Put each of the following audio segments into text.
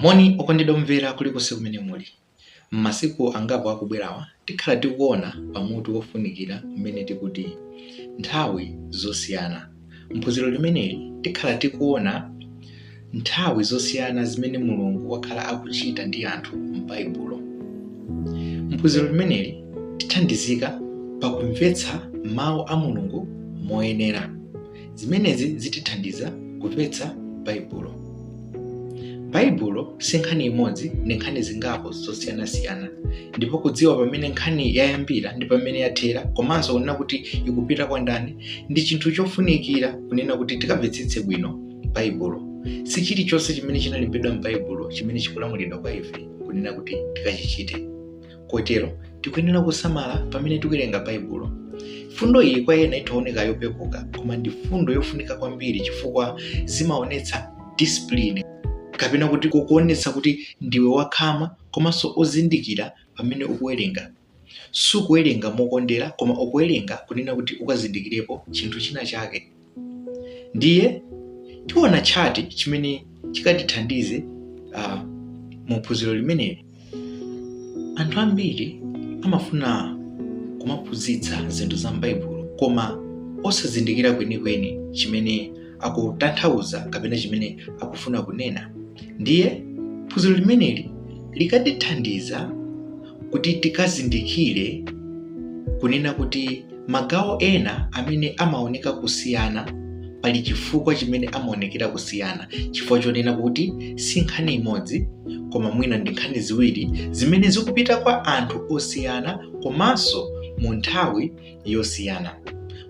Moni okondedwa omvera kulikonse kumene muli. M'masiku angapo akubwerawa, tikhala tikuona pa mutu wofunikira umene tikuti, Nthawi Zosiyana. M'phunziro limeneli, tikhala tikuona nthawi zosiyana zimene Mulungu wakhala akuchita ndi anthu m'Baibulo. M'phunziro limeneli, tithandizika pa kumvetsa Mau a Mulungu moyenera. Zimenezi zitithandiza kumvetsa Baibulo. Baibulo si nkhani imodzi, ndi nkhani zingapo zosiyanasiyana. Ndipo kudziwa pamene nkhani yayambira ndi pamene yathera komanso kunena kuti ikupita kwa ndani ndi chinthu chofunikira kunena kuti tikamvetsetse bwino Baibulo. Si chilichonse chimene chinalembedwa m'Baibulo chimene chikulamulidwa kwa ife kunena kuti tikachichite. kotero tikuyenera kusamala pamene tikuwerenga baibulo fundo iyi kwa ena itha oneka yopepuka koma ndi fundo yofunika kwambiri chifukwa zimaonetsa discipline kapena kuti kokuonetsa kuti ndiwe wakhama komanso ozindikira pamene ukuwerenga sukuwerenga mokondera koma ukuwerenga kunena kuti ukazindikirepo chinthu china chake ndiye tiona tchati chimene chikatithandize uh, mu phunziro limeneli anthu ambiri amafuna kumaphunzitsa zinthu za m'baibulo koma osazindikira kwenikweni chimene akutanthauza kapena chimene akufuna kunena ndiye phunziro limeneli likatithandiza kuti tikazindikire kunena kuti magawo ena amene amaoneka kusiyana pali chifukwa chimene amaonekera kusiyana chifukwa chonena kuti si nkhani imodzi koma mwina ndi nkhani ziwiri zimene zikupita kwa anthu osiyana komanso mu nthawi yosiyana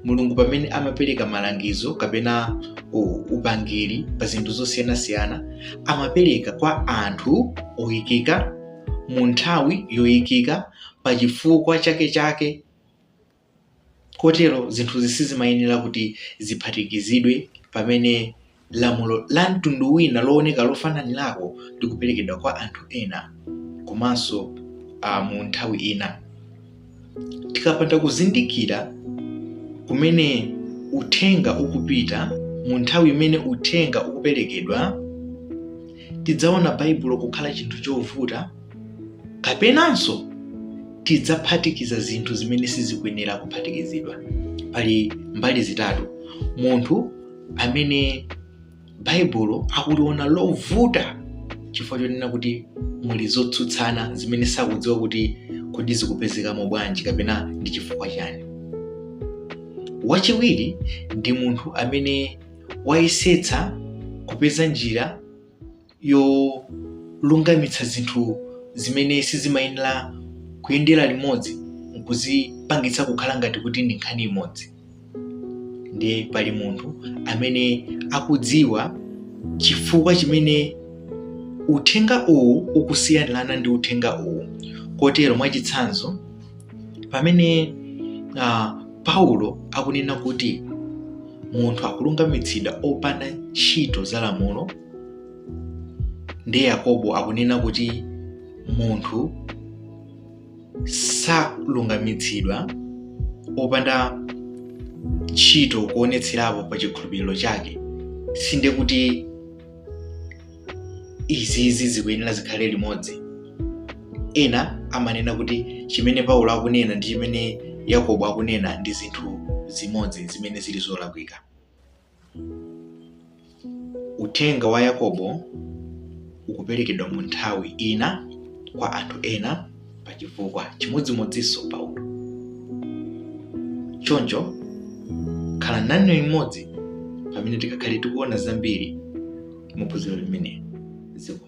mulungu pamene amapereka malangizo kapena u- upangiri pa zinthu zosiyanasiyana amapereka kwa anthu oyikika mu nthawi yoyikika pa chifukwa chake chake kotero zinthuzi sizimayenera kuti ziphatikizidwe pamene Lamulo la mtundu wina looneka lofananirako likuperekedwa kwa anthu ena komanso a mu nthawi ina. Tikapanda kuzindikira kumene uthenga ukupita mu nthawi imene uthenga ukuperekedwa, tidzaona Baibulo kukhala chinthu chovuta kapenanso tidzaphatikiza zinthu zimene sizikuyenera kuphatikizidwa. Pali mbali zitatu munthu amene baibulo akuliona lovuta chifukwa chonena kuti muli zotsutsana zimene sakudziwa kuti kodi zikupezekamo bwanji kapena ndi chifukwa chani wachiwiri ndi munthu amene wayesetsa kupeza njira yolungamitsa zinthu zimene sizimayenera kuyendera limodzi nkuzipangitsa kukhala ngati kuti ndi nkhani imodzi ndiye pali munthu amene akudziwa chifukwa chimene uthenga uwu ukusiyanirana ndi uthenga uwu kotero mwachitsanzo pamene uh, paulo akunena kuti munthu akulungamitsidwa opanda ntchito za lamulo ndi yakobo akunena kuti munthu salungamitsidwa opanda ntchito kuonetserapo pa chikhulupiriro chake sinde kuti izizi zikuyenera zikhale limodzi ena amanena kuti chimene paulo akunena ndi chimene yakobo akunena ndi zinthu zimodzi zimene zili zolakwika uthenga wa yakobo ukuperekedwa mu nthawi ina kwa anthu ena pa chifukwa chimodzimodzinso paulo choncho khala nane limodzi pamene tikakhale tikuona zambiri mu phunziro limene ziko